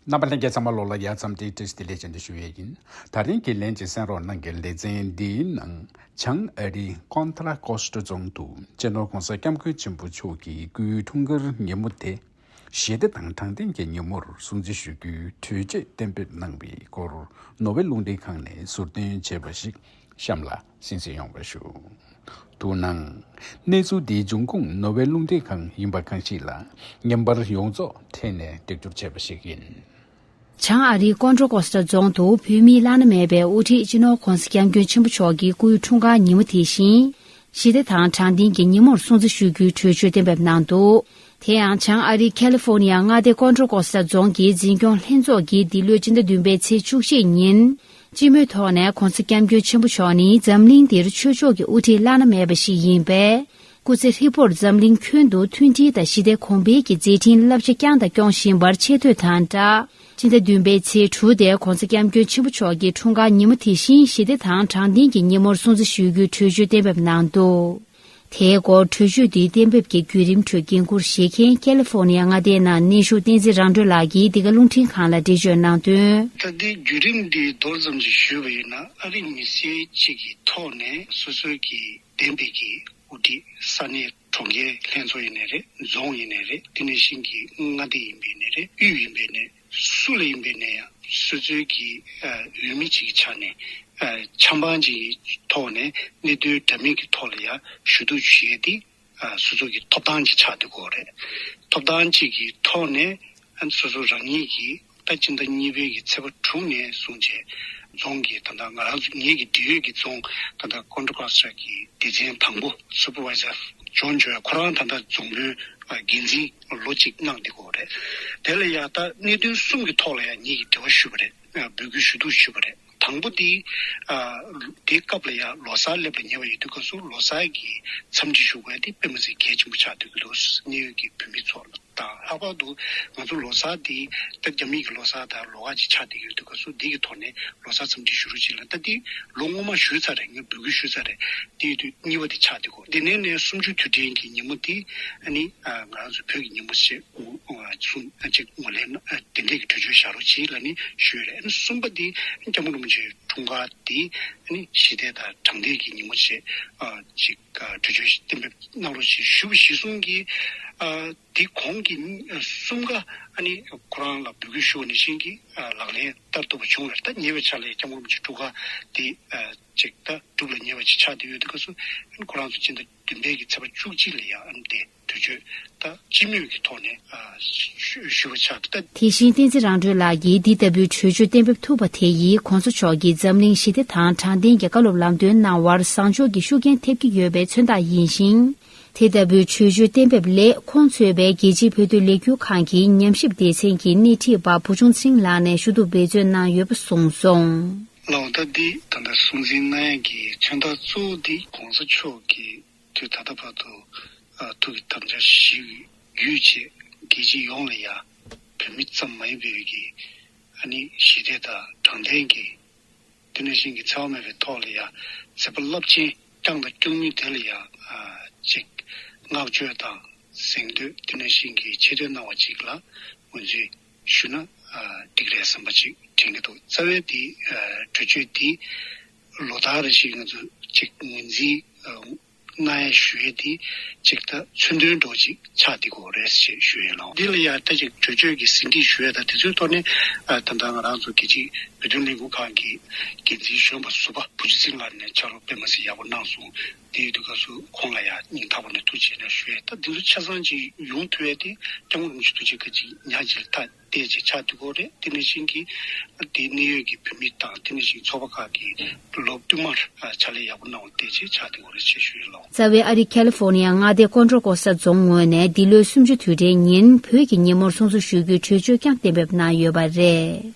རྣམ་པ་ལྷན་རྒྱས་ཚང་མ་ལོགས་ལ་ཡག་ཙམ་དེའི་གྲས་དེ་ལས་ཅན་དུ་ཞུ་ཡས་ཡིན་ད་རིང་གི་ལན་ཅིག་གསན་རོགས་གནང་གི་ལེ་ཚན་འདིའི་ནང་བྱང་ཨ་རི་ཀོན་ཏར་ཀོ་སྟ་རྫོང་དུ་གཅེས་ནོར་གོང་ས་སྐྱབས་མགོན་ཆེན་པོ་མཆོག་གི་སྐུའི་འཁྲུངས་སྐར་ཉིན་མོ་དེ་ཞི་བདེ་དང་དྲང་བདེན་གྱི་ཉིན་མོར་སྲུང་བརྩི་ཞུ་རྒྱུའི་གྲོས་ཆོད་གཏན་འབེབས་གནང་བའི་སྐོར་ནོ་བྷེལ་རླུང་འཕྲིན་ཁང་ནས་ཟུར་འདོན་བྱས་པ་ཞིག་གཤམ་ལ། བཞིན་བཞེས་ཡོང་བར་ཞུ། དུ་སྣང། གནས་ཚུལ་འདིའི་འབྱུང་ཁུངས་ནོ་བྷེལ་རླུང་རྟའི་ཁང་ཡིན་པ་གང་ཞིག་ལ་ཉམས་པར་ཡོངས་རྫོགས་ཐད་ནས་འདེགས་སྐྱོར་བྱས་པ་ཞིག་ཡིན། བྱང་ཨ་རིའི་ཀོན་ཀྲོ་ཀོ་སི་ཏྲ་རྫོང་དུ་བོད་མིའི་བླ་ན་མེད་པའི་དབུ་ཁྲིད་སྤྱི་ནོར་ཁོང་སྐྱབས་མགོན་ཆེན་པོ་མཆོག་གི་སྐུའི་འཁྲུངས་སྐར་ཉིན་མོ་དེ་བཞིན། ཞི་བདེ་དང་དྲང་བདེན་གྱི་ཉིན་མོར་སྲུང་བརྩི་ཞུ་རྒྱུའི་གྲོས་ཆོད་གཏན་འབེབས་གནང་འདུག་དེ་ཡང་བྱང་ཨ་རིའི་ཁེ་ལི་ཧྥོ་ནི་ཡ་མངའ་སྡེ་ཀོན་ཀྲོ་ཀོ་སི་ཏྲ་རྫོང་གི་འཛིན་སྐྱོང་ལྷན་ཚོགས་ཀྱིས་འདི་ལོའི་སྤྱི་ཟླ་བདུན་པའི་ཚེས་བཅུ་གཅིག་ཉིན་སྤྱི་མོས་ཐོག་ནས་གོང་ས་སྐྱབས་མགོན་ཆེན་པོ་མཆོག་ནི་འཛམ་གླིང་འདིར་ཆོས་ཕྱོགས་ཀྱི་དབུ་ཁྲིད་བླ་ན་མེད་པ་ཞིག་ཡིན་པས། སྐུ་ཚེ་ཧྲིལ་པོར་འཛམ་གླིང་ཁྱོན་དུ་མཐུན་སྒྲིལ་དང་ཞི་བདེ་གོང་འཕེལ་གྱི་མཛད་འཕྲིན་བསླབ་བྱ་བསྐྱངས་དང་སྐྱོང་བཞིན་པར་ཆེ་བསྟོད་དང་སྦྲགས་སྤྱི་ཟླ་བདུན་པའི་ཚེས་དྲུག་སྟེ་གོང་ས་སྐྱབས་མགོན་ཆེན་པོ་མཆོག་གི་འཁྲུངས་སྐར་ཉིན་མོ་དེ་བཞིན་ཞི་བདེ་དང་དྲང་བདེན་གྱི་ཉིན་མོར་སྲུང་བརྩི་ཞུ་རྒྱུའི་གྲོས་ཆོད་གཏན་འབེབས་གནང་འདུག། དེའི་སྐོར་གྲོས་ཆོད་འདིའི་གཏན་འབེབས་ཀྱི་བརྒྱུད་རིམ་ཁྲོད་འགན་འཁུར་བཞེས་མཁན་ཀལ་ལི་ཧྥོར་ནི་ཡ་མངའ་སྡེའི་ནང་གནས་བཞུགས་བསྟན་འཛིན་རང་གྲོལ་ལགས་ཀྱིས་འདི་ག་རླུང་འཕྲིན་ཁང་ལ་འགྲེལ་བརྗོད་གནང་དོན། ད་ལྟའི་བརྒྱུད་རིམ་འདི་མདོར་ཙམ་ཞིག་ཞུས་པ་ཡིན་ན་ཨ་རིག་མི་སེར་གཅིག་གི་ཐོག་ནས་སོ་སོའི་གི་གདན་འབེབས་ཀྱི་དབུ་ཁྲིད་ས་གནས་གྲོང་ཁྱེར་ལྷན་ཚོགས་ཡིན་ནས་རེད་རྫོང་ཡིན་ནས་རེད་དེ་ནས་ཞིང་གི་མངའ་སྡེ་ཡིན་པས་ནས་རེད་དབུས་ཡིན་པས་ནས་སུ་ལ་ཡིན་པའི་ནས་སུ་ཚོད་ཀྱིས་འོས་མི་ཅིག་གི་ཆ་ནས་ཆ་འབངས་ཅིག་གི་ཐོག་ནས་གནད་དོན་འདྲ་མིན་གི་ཐོག་ལ་ཡང་ཞུ་གཏུག་བྱེད་ཡས་དེ་སུ་ཚོད་ཀྱི་ཐོབ་ཐང་གི་ཆ་དེ་གོ་རེད། ཐོབ་ཐང་ཅིག་གི་ཐོག་ནས་སུ་ཚོད་རང་ཉིད་ཀྱི་ད་ཅི་ད་གཉིས་པའི་གི་ཚེ་པ་དྲུག་ནས་བཟུང་བྱས་རྫོང་གི་ད་ང་རང་ཚོ་ངེད་ཀྱི་འབྲེལ་ཡོད་ཀྱི་རྫོང་ད་ད Control Cluster གྱི་སྡེ་ཚན་དང་པོ Supervisor John Joy ཁོ་རང་ད་ད་རྫོང་དཔོན་འགན་འཛིན། ལོ་གཅིག་གནང་འདི་གོ་རེད། དེ་ལ་ཡང་ད་གནད་དོན་གསུམ་གྱི་ཐོག་ལ་ཡང་ཉིད་ཀྱི་འབྲེལ་བ་ཞུས་པ་རེད། འབོད་སྐུལ་ཞུ་གཏུགས་ཞུས་པ་རེད། དང་པོ་དེ། དེའི་སྐབས་ལ་ཡང་ལོ་སར་སླེབས་ལ་ཉེ་བ་ཡོད་དུས་སྐབས་སུ་ལོ་སར་གྱི་འཚམས་འདྲི་ཞུ་སྐབས་དེ་དཔེ་མ་ཚིག་གལ་ཆེན་པོ་ཆགས་སྡོད་ཀྱི་འདུག་གནད་ཡོད་ཀྱི་བོད་མི་ཚོ་དང་ལྷག་པར་དུ་ང་ཚོ་ལོ་སར་དེ་ད་རྒྱ་མི་ཀྱི་ལོ་སར་ད་ལོ་ཁག་ཅིག་ཆགས་བསྡད་ཀྱི་ཡོད་དུས་སྐབས་སུ་དེ་ཀྱི་ཐོག་ནས་ལོ་སར་འཚམས་འདྲི་ཞུ་རོགས་གཅིག་ལ་ད་དེ་ལོ་སྔོན་མ་ཞུས་ཚར་རེད་ངས་འབོད་སྐུལ་ཞུས་ཚར་རེད་དེ་ཡོད་དུས་གཉིས་པ་དེ་ཆགས་འདི་གོ། འདི་ནས་ནི་སུམ་ཅུ་དུས་དྲན་གྱི་ཉིན་མོ་འདི་ནི་ང་རང་ཚོའི་བོད་ཀྱི་ཉིན་མོ་ཞེས་གསུངས་གཅིག་ངོས་ལེན་ན་དེ་འདྲས་ཀྱི་གྲོས་ཆོད་བཞག་རོགས་གཅིག་ལ་ནི་ཞུས་རེད་གསུམ་པ་འདི་སྐྱ་བོ་རིན་པོ་ཆེའི་འཁྲུངས་སྐར་འདི་ནི་ཞི་བདེ་དང་དྲང་བདེན་གྱི་ཉིན་མོ་ཞེས་གཅིག་གྲོས་ཆོད་གཏན་འབེབས་གནང་རོགས་གཅིག་ཞུས་གཞི་གསུམ་གྱི་དེ་གོང་གི་གསུམ་ཀ་ནི་ཁོ་རང་ལ་འབོད་སྐུལ་ཞུ་བ་ནི་བཞིན་གྱི་ལག་ལེན་བསྟར་ཐུབ་པ་བྱུང་བས་ད་ཉེ་བའི་ཆར་ལ་ཡང་སྐྱ་བོ་རིན་པོ་ཆེའི་འཁྲུངས་སྐར་འདི་ཅིག་ལྟ་གྲུབ་ལ་ཉེ་བ་ཅིག་ཆགས་ཏེ་ཡོད་དུས་སྐབས་སུ། ཁོ་རང་ཚོ་སྤྱི་ཟླ་བདུན་པའི་གི་ཚེས་པ་བཅུ་གཅིག་ལ་ཡ་ཨམ་ཏེ་དུས་མཆོད་ལྟ་སྤྱི་མོས་ཀྱི་ཐོག་ནས་ཞུ་བ་ཆགས་ཏེ། དེ་བཞིན་བསྟན་འཛིན་རང་གྲོལ་ལགས་ཀྱིས་འདི་ལྟ་བུའི་གྲོས་ཆོད་གཏན་འབེབས་ཐུབ་པ་དེ་ཡིས ྋགོང་ས་མཆོག་གིས་འཛམ་གླིང་ཞི་བདེ་དང་དྲང་བདེན་གྱི་བཀའ་སློབ་ལམ་སྟོན་གནང་བར་བཟང་ཕྱོགས་ཀྱི་ཤུགས་རྐྱེན་ཐེབས་ཀྱི་ཡོད་པའི་མཚོན་རྟགས་ཡིན་ཞིང། དེ་ལྟ་བུའི་ཆོས་བརྒྱུད་གཏན་འབེབས་ལས་ཁོང་ཚོས་པའི་རྒྱལ་སྤྱིའི་བོད་དུ་ལས་འགུལ་ཁང་གི་ཉམས་ཞིབ་སྡེ་ཚན་གྱི་སྣེ་ཁྲིད་པ་བུ་ཆུང་ཚིང་ལགས་ནས་ཞུ་གཏུག་འབད་བརྩོན་གནང་ཡོད་པ་གསུངས་སོང། ལ་བ་ད་འདི་ད་ལྟ་སྲོང་བཙན་གནའ་ཡན་གྱི་མཚོན་རྟགས་གཙོ་བོ་འདི་གོང་ས་མཆོག་གི་དུས་ད་ལྟ་བར་དུ་ཐུགས་ཀྱི་དམ་བཅའ་ཞིག་རྒྱུད་ཆད་རྒྱལ་སྤྱི་ཡོངས་ལ་ཡང་བོད་མི་ཙམ་མ་ཡིན་པའི་རིགས་ཀྱི་ཨ་ནི་ཞི་བདེ་དང་དྲང་བདེན་གྱི། དེ་ནས་ཤིང་གི་ཚལ་མེད་པའི་ཐོག་ལ་ཡང་ཚེ་དཔག་རླབས་ཆེན་བསྐྱངས་དང་སྐྱོང་ནུས་དེ་ལ་ཡང་ཅིག། སྔགས་བརྗོད་དང་གཟེངས་བསྟོད་དེ་ནས་ཤིང་གི་ཕྱི་རོལ་སྣང་བ་ཅིག་ལ་ངོས་འཛིན་ཞུ་ན་འགྲིག་རེད་བསམ་པ་ཅིག་དྲན་གྱི་འདུག་རྩ་བའི་དེའི་གྲོས་ཆོད་དེ་ལོ་ཟླ་རེ་ཞིག་ང་ཚོ་ཅིག་ངོས་འཛིན་ངའི་ཞུ་ཡིག་འདི་ཅིག་ད་ཚུན་དོན་འགྲོ་ཅིག་ཆགས་འདི་གོ་རེད་ཞེས་ཞུ་ཡིན་ལོ། འདི་ལ་ཡང་ད་ཅིག་གྲོས་ཆོད་ཀྱི་ཟིན་བྲིས་ཞུ་ཡ་ད་དེ་ཚོའི་ཐོག་ནས་ད་ལྟ་ང་རང་ཚོ་རྒྱལ་སྤྱིའི་བོད་དོན་ལས་འགུལ་ཁང་གི་འགན་འཛིན་གཞོན་པ་ཟུར་པ་བུ་ཆུ་ཚིགས་ལགས་ནས་ཕྱག་རོགས་སྤེལ་མ་ཟིན་ཡག་པོ་གནང་སོང་དེའི་དུས་སྐབས་སུ་ཁོང་ལ་ཡང་སྙིང་ཐག་པ་ནས་ཐུགས་ཆེ་ནས་ཞུ་ཡ་ད་འདི་ཚོ་ཆ་ཚང་ཅིག་ཡོང་ཐུ་ཡ་དེ་སྐྱབས་མགོན་རིན་ཆེན་ཐུགས་རྗེ་ཁ་ཅིག་ཉག་གཅིག་ལ་ཐ། ཏེ་བྱེད་ཕྱག་དུས་འཁོར་རེད་ཏི་ནི་ཞིང་གི་དེའི་གནས་ཡོད་ཀྱི་བུད་མེད་དང་ཏི་ནི་ཞིང་ཚོགས་པ་ཁག་གིས་ལོ་བསྟུད་མར་ཕྱག་ལས་ཡག་པོ་གནང་བ་ཏེ་བྱེད་ཕྱག་དུས་འཁོར་རེད་ཆེ་ཞུ་ཡི་ལོ། རྩ་བའི་ཨ་རི་ཁལ་ཧྥོར་ནི་ཡ་མངའ་སྡེ་ཀོན་ཀྲོ་ཀོ་ས་རྫོང་ངོས་ནས་འདི་ལོའི་སུམ་ཅུ་དུས་དྲན་ཉིན་བོད་ཀྱི་ཉིན་མོར་སྲུང་བཟོ་ཞུ་རྒྱུའི་གྲོས་ཆོད་བསྐྱངས་གཏན་འབེབས་གནང་ཡོད་པ་རེད།